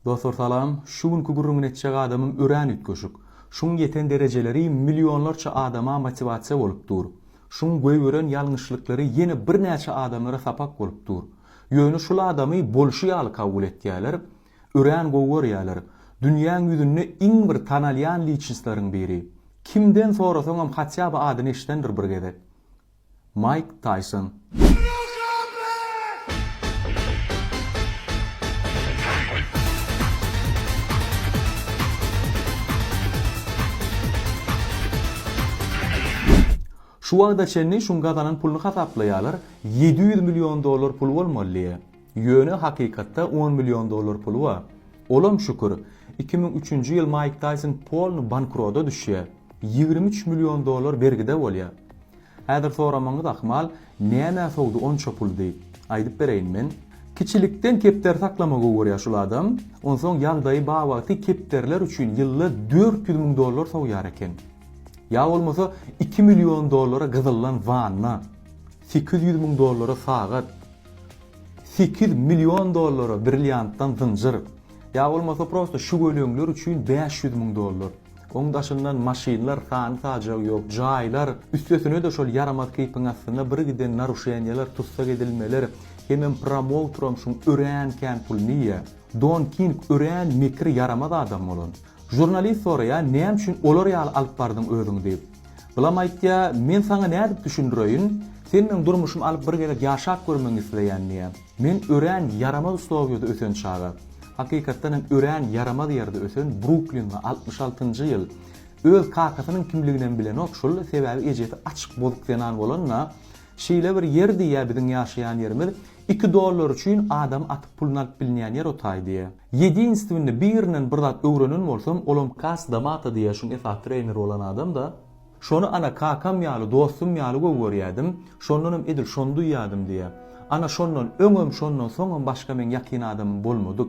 Dostlar salam, şu günki gürrüňini etjek adamym örän üýtgeşik. Şuň ýeten derejeleri millionlarça adama motiwasiýa bolup dur. Şuň goýberen ýalňyşlyklary ýene birnäçe adamlara sapak bolup dur. Ýöne şul adamy bolşy ýaly kabul etýäler, örän gowy görýäler. Dünýäň ýüzünde iň bir tanalýan liçnistlaryň biri. Kimden sorasaňam hatýa by adyny eşidendir bir gezek. Maýk Taýson. Şu wagta çenli şuň gazanan puluny hasaplaýalar, ýedi ýüz million dollar pul bolmaly. Ýöne hakykatda on million dollar puly bar. Olam şükür, iki müň üçünji ýyl Maýk Taýson polny bankroda düşýär. Ýigrimi üç million dollar bergide bolýar. Häzir soramagyňyz ahmal, nämä sowdy onça pul diýip. Aýdyp bereýin men. Kiçilikden kepder saklama gowy görýär şul adam. Onsoň ýagdaýy bar wagty kepderler üçin ýylda dört ýüz müň dollar sowýar eken. Ýa bolmasa iki million dollara gyzyllan wanna. Sekiz ýüz müň dollara sagat. Sekiz million dollara brilliantdan zynjyr. Ýa bolmasa prosta şu göleňler üçin bäş ýüz müň dollar. Oň daşyndan maşynlar sany-sajagy ýok, jaýlar, üstesine-de şol ýaramaz keýpiň astynda birgiden naruşeniýalar, tussak edilmeler, hemem promouteram şuň örän kän puluny iýýä. Don King örän mekir ýaramaz adam bolan. Žurnalist soraýar, näme üçin olar ýaly alyp bardyň özüňi diýip. Bulam aýtýa, men saňa nädip düşündireýin, sen meň durmuşym alyp bir gezek ýaşap görmegiňi isleýän diýä. Men örän ýaramaz Slowiýada ösen çaga, hakykatdan hem örän ýaramaz ýerde ösen Bruklinli altmyş altynjy ýyl, öz kakasynyň kimliginem bilenok şul, sebäbi ejesi açyk bozuk zenan bolanda, şeýle bir ýerdi ýa biziň ýaşaýan ýerimiz, Iki dollar üçin adamy atyp pulun alyp bilnýän ýer otay diýýä. Ýedinstwny birinden bir zat öwrenen bolsam olam kas damata diýýä şuň esasy trener bolan adam da. Şony ana kakam ýaly dostum ýaly gowy görýädim. Şondanam edil şony duýýadym diýýä. Ana şondan öňem şondan soňam başga meň ýakyn adamym bolmadyk.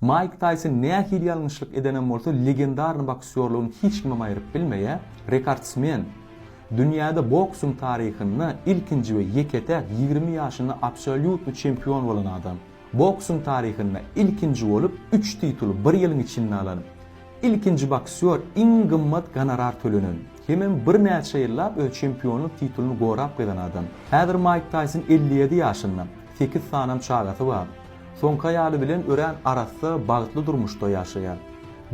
Maýk Taýson nähili ýalňyşlyk edenem bolsa legendarny boksýorlygyny hiç kimem aýryp bilmeýä, rekordsmen, dünýäde boksuň taryhynda ilkinji we ýeke-täk ýigrimi ýaşynda absolýutny çempion bolan adam, boksuň taryhynda ilkinji bolup üç tituly bir ýylyň içinde alan, ilkinji boksýor iň gymmat gonorar tölenen, hemem birnäçe ýyllap öz çempionlyk titulyny gorap gyzan adam. Häzir Maýk Taýson elli ýedi ýaşynda, sekiz sanam çagasy bar. Soňky aýaly bilen örän arassa, bagtly durmuşda ýaşaýar.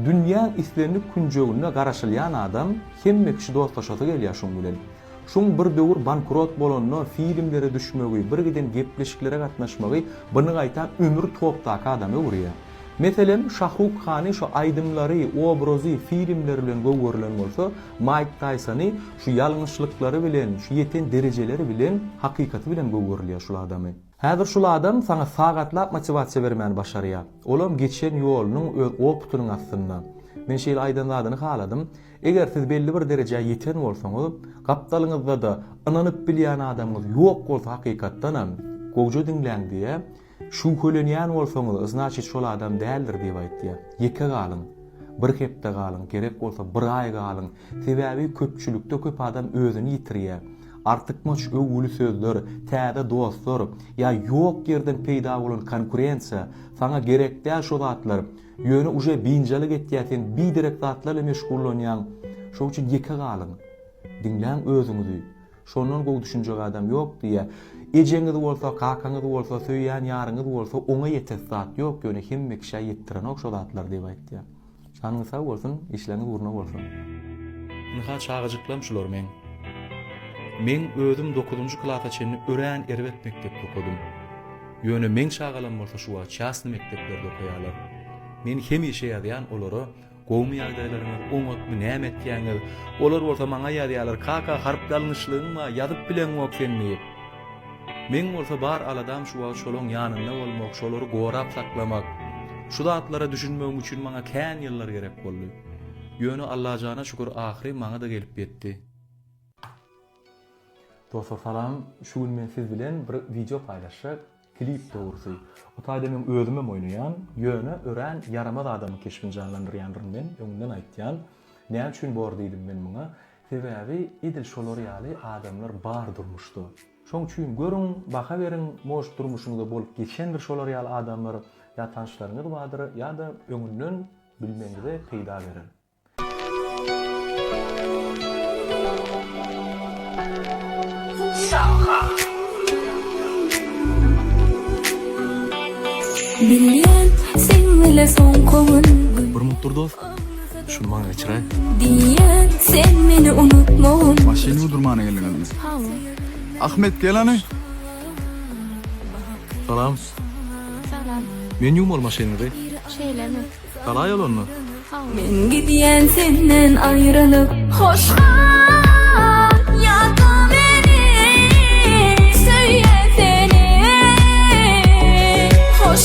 Dünýäň islendik künjeginde garaşylýan adam hemme kişi dostlaşasy gelýär şuň bilen. Şuň bir döwür bankrot bolanda filmlere düşmegi, birgiden gepleşiklere gatnaşmagy bny gaýtam ömür topdaky adama öwürýär. Meselem, Şahruk Hany şu aýdymlary, obrazy, filmleri bilen gowy görlen bolsa, Maýk Taýsony şu ýalňyşlyklary bilen, şu ýeten derejeleri bilen, hakykaty bilen gowy görülýär şul adamy. Häzir şul adam saňa sagatlap motiwasiýa bermäni başarýar. Olam geçen ýolunyň öz opytynyň astynda. Men şeýle aýdan zadyny haladym. Eger siz belli bir derejä ýeten bolsaňyz, gapdalyňyzda-da ynanyp bilýän adamyňyz ýok bolsa hakykatdanam, gowja diňläň diýýär. Şübhelenýän bolsaňyz, znaçit şol adam däldir diýip aýtýar. Ýeke galyň. Bir hepde galyň, gerek bolsa bir aý galyň. Sebäbi köpçülikde köp adam özüni ýitirýär. Artykmaç öwgüli sözler, täze dostlar ýa ýok ýerden peýda bolan konkurensiýa, saňa gerek däl şo zatlar, ýöne uje binjalyk etýär sen biderek zatlarla meşgullanýaň, şoň üçin ýeke galyň. Diňläň özüňizi. Şondan gowy düşünjek adam ýok diýýä. Ejeňiz bolsa, kakaňyz bolsa, söýýän ýaryňyz bolsa oňa ýetesi zat ýok, ýöne hemme kişä ýetdirenok şo zatlar diýip aýtýar. Janyňyz sag bolsun, işleriňiz ugruna bolsun. Ynha çagajyklam şular meň. Meň özüm dokuzynjy klasa çenli örän erbet mekdepde okadym. Ýöne meň çagalam bolsa şu wagt çasny mekdeplerde okaýarlar. Men hemişe ýazýan olara gowmy ýagdaýlaryňyz, oňatmy, näme etýäňiz? Olar bolsa maňa ýazýarlar, Kaka harply alňyşlygyň bar, ýazyp bileňok sen diýip. Meň bolsa bar aladam şu wagt şolaň ýanynda bolmak, şolary gorap saklamak. Şu zatlara düşünmegim üçin maňa kän ýyllar gerek boldy. Ýöne Allajana şükür ahyry maňa-da gelip ýetdi. Dostlar salam, şu gün men siz bilen bir wideo paýlaşjak, klip dogrusy. O taýda men özümem oýnaýan, ýöne örän ýaramaz adamyň keşbini janlandyrýandyryn men, öňünden aýtýan. Näme üçin bor diýdim men muňa? Sebäbi edil şolar ýaly adamlar bar durmuşda. Şoň üçin görüň, baha beriň, может durmuşyňyzda bolup geçendir şolar ýaly adamlar, ýa tanşlaryňyz bardyr, ýa-da öňünden bilmegiňize peýda berer. Bilýän, seň ile soň koňun. Hormatly dost! Şuny maňa geçiräý. Diýýän sen meni unutmagyn. Maşyn ýuwdurmana geldiňizmi? Hawa. Ahmet gel hany. Salam. Salam. Men ýuwmaly maşynyňyzy. Şeýlemi? Galaý ol onda. Hawa. Men gidýän senden aýrylyp. Hoş gal ýatda meni. Söýýän seni. Hoş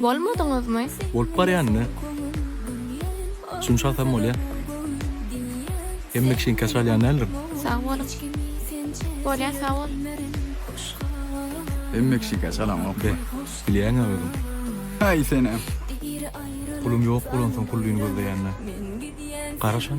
Bolmadyňyzmy? Bolup barýan ine. Düşüniş alsam bolýa. Hemme kişiň kaş alýan däldir. Sag boluň. Bolýa sag bol. Hemme kişi kaş alanokmy? Be, bilýäňä özüň. Haý senem. Pulum ýok bolansoň pullyny gözleýänme? Garaşan.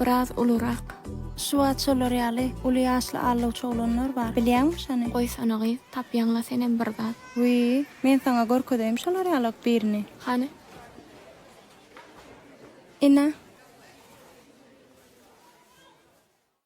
Biraz ulurak. Şu wagt şolar ýaly uly ýaşly allawçy oglanlar bar. Bilýäňmi şony? Goýsana gyz, tapýaňla senem bir zat. Wiý, men saňa görkezeýin şolar ýalak birini. Hany? Ine.